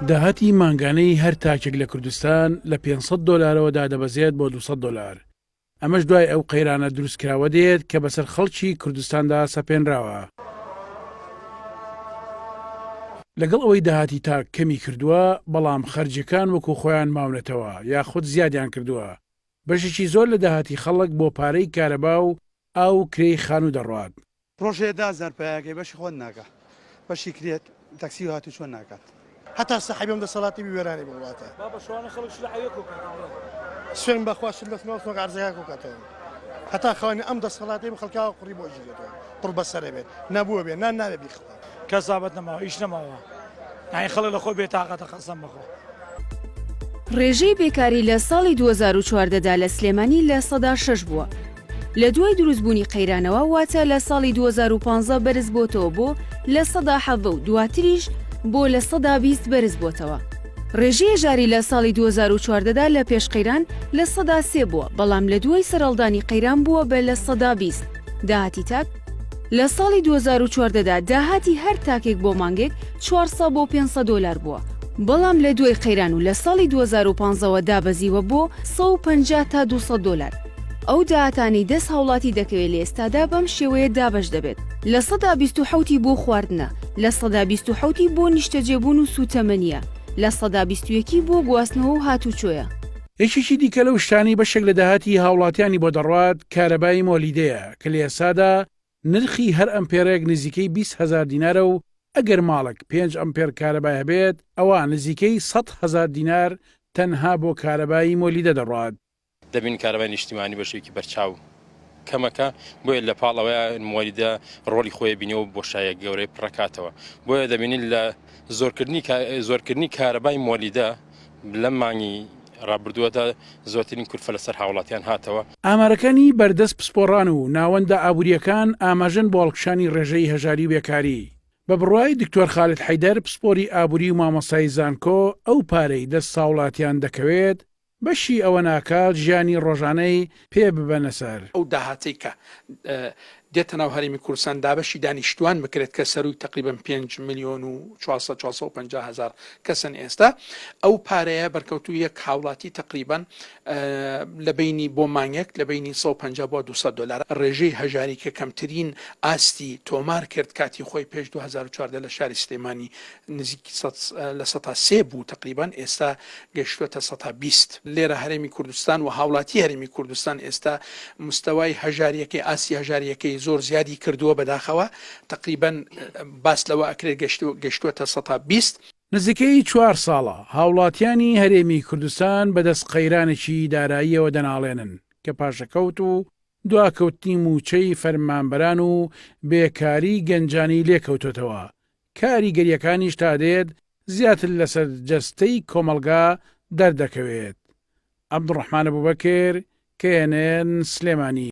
داهاتی مانگانەی هەر تاکێک لە کوردستان لە پێنج سەد دۆلارەوە دادەبەزێت بۆ دوو سەد دۆلار، ئەمەش دوای ئەو قەیرانە دروستکراوە دێت کە بەسەر خەڵکی کوردستاندا سەپێنراوە. لەگەڵ ئەوەی داهاتی تاک کەمی کردووە، بەڵام خەرجیەکان وەکو خۆیان ماونەتەوە یاخود زیادیان کردووە، بەشێکی زۆر لە داهاتی خەڵک بۆ پارەی کارەبا و ئاو و کرێی خانوو دەڕوات، ڕۆژێ دە هەزار پایەکەی بەشی خۆت ناکا بەشی کرێت تەکسی و هاتوچۆ ناکات. هەتا سەحەبی ئەم دەسەڵاتەی بی وێرانی بم وڵاتە. بابە شەوانە خەڵک شلە عەوێ کۆ کاتەوە بڵێ. سوێن بە خوا شل دەسماو سۆک عەرزەکە کۆ کاتەوە هەتا خەونی ئەم دەسەڵاتەی بم خەڵکاوە قوڕی بۆ ئەژیرێتەوە قوڕ بەسەرە بێت نەبووە بێ نان نابێ بیخوا. کەس زابەت نەماوە ئیش نەماوە یانی خەڵک لەخۆ بێتاقەتە قەسەم بەخوا. ڕێژەی بێکاری لە ساڵی دوو هەزار و چواردە دا لە سلێمانی لە سەدا شەش بووە لە دوای دروست بوونی قەیرانەوە واتە لە ساڵی دوو هەزار و پازدە بەرز بۆتەوە بۆ لە سەدا حەڤە و دواتریش بۆ لە سەدا بیست بەرز بۆتەوە ڕێژەی هەژاری لە ساڵی دوو هەزار و چواردە دا لە پێش قەیران لە سەدا سێ بووە بەڵام لە دوای سەرهەڵدانی قەیران بووە بە لە سەدا بیست داهاتی تاک لە ساڵی دوو هەزار و چواردە دا داهاتی هەر تاکێک بۆ مانگێک چوار سەد بۆ پێنج سەد دۆلار بووە، بەڵام لە دوای قەیران و لە ساڵی دوو هەزار و پازدە وە دابەزیوە بۆ سەد و پەنجا تا دوو سەد دۆلار. ئەو داهاتانەی دەست هاوڵاتی دەکەوێت لە ئێستادا بەم شێوەیە دابەش دەبێت، لە سەدا بیست و حەوت ی بۆ خواردنە، لە سەدا بیست و حەوت ی بۆ نیشتەجێبوون و سووتەمەنییە، لە سەدا بیست و یەک ی بۆ گواستنەوە و هاتووچۆیە. یەکێکی دیکە لەو شتانەی بەشێک لە داهاتی هاوڵاتیانی بۆ دەڕوات کارەبای مۆلیدەیە، کلێسادا نرخی هەر ئەمپێرێک نزیکەی بیست هەزار دینارە و ئەگەر ماڵێک پێنج ئەمپێر کارەبای هەبێت ئەوا نزیکەی سەد هەزار دینار تەنها بۆ کارەبای مۆلیدە دەڕوات. دەبینن کارەبای نیشتیمانی بەشێکی بەرچاو کەمەکە بۆیە لە پاڵ ئەوەی مۆلیدە ڕۆڵی خۆی بینی و بۆشاییە گەورەی پڕەکاتەوە بۆیە دەبینین لە زۆرکردنی زۆرکردنی کارەبای مۆلیدە لەم مانگی رابردووەدا زۆرترین کورفە لەسەر هاوڵاتیان هاتەوە. ئامارەکانی بەردەست پسپۆڕان و ناوەندە ئابوورییەکان ئاماژەن بۆ هەڵکشانی رێژەی هەژاری و بێکاری. بە بڕوای دکتۆر خالد حەیدەر پسپۆری ئابووری و مامۆستای زانکۆ ئەو پارەی دەست هاوڵاتیان دەکەوێت بەشی ئەوە ناکات ژیانی رۆژانەی پێ ببەنە سەر. ئەو داهاتەی کە دێتە ناو هەرێمی کوردستان دابەشی دانیشتووان بکرێت کە سەرووی تەقریبەن پێنج ملیۆن و چوار سەد چوار سەد و پەنجا هەزار کەسن ئێستا ئەو پارەیە بەرکەوتوو یەک هاوڵاتی تەقریبەن لە بینی بۆ مانگێک لە بینی 150 بۆ 200 دلار ڕێژەی هەژاری کە کەمترین ئاستی تۆمار کرد کاتی خۆی پێش 2014 لە شاری سلێمانی نزیک سەد لە سەتا سێ بوو تەقریبەن ئێستا گەیشتووەتە سەتا بیست. لێرە هەرێمی کوردستان و هاوڵاتی هەرێمی کوردستان ئێستا مستەوای هەژارییەکەی ئاستی هەژارییەکەی زۆر زیادی کردووە بەداخەوە تەقریبەن باس لەوە ئەکرێت گەیشتووەتە سەتا بیست. نزیکەی چوار ساڵە هاوڵاتیانی هەرێمی کوردستان بەدەست قەیرانێکی داراییەوە دەناڵێنن کە پاشەکەوت و دواکەوتنی مووچەی فەرمانبەران و بێکاری گەنجانی لێکەوتۆتەوە کاریگەرییەکانیش تا دێت زیاتر لەسەر جەستەی کۆمەڵگا دەردەکەوێت. عەبدولڕەحمان ئەبوبەکر، knn، سلێمانی.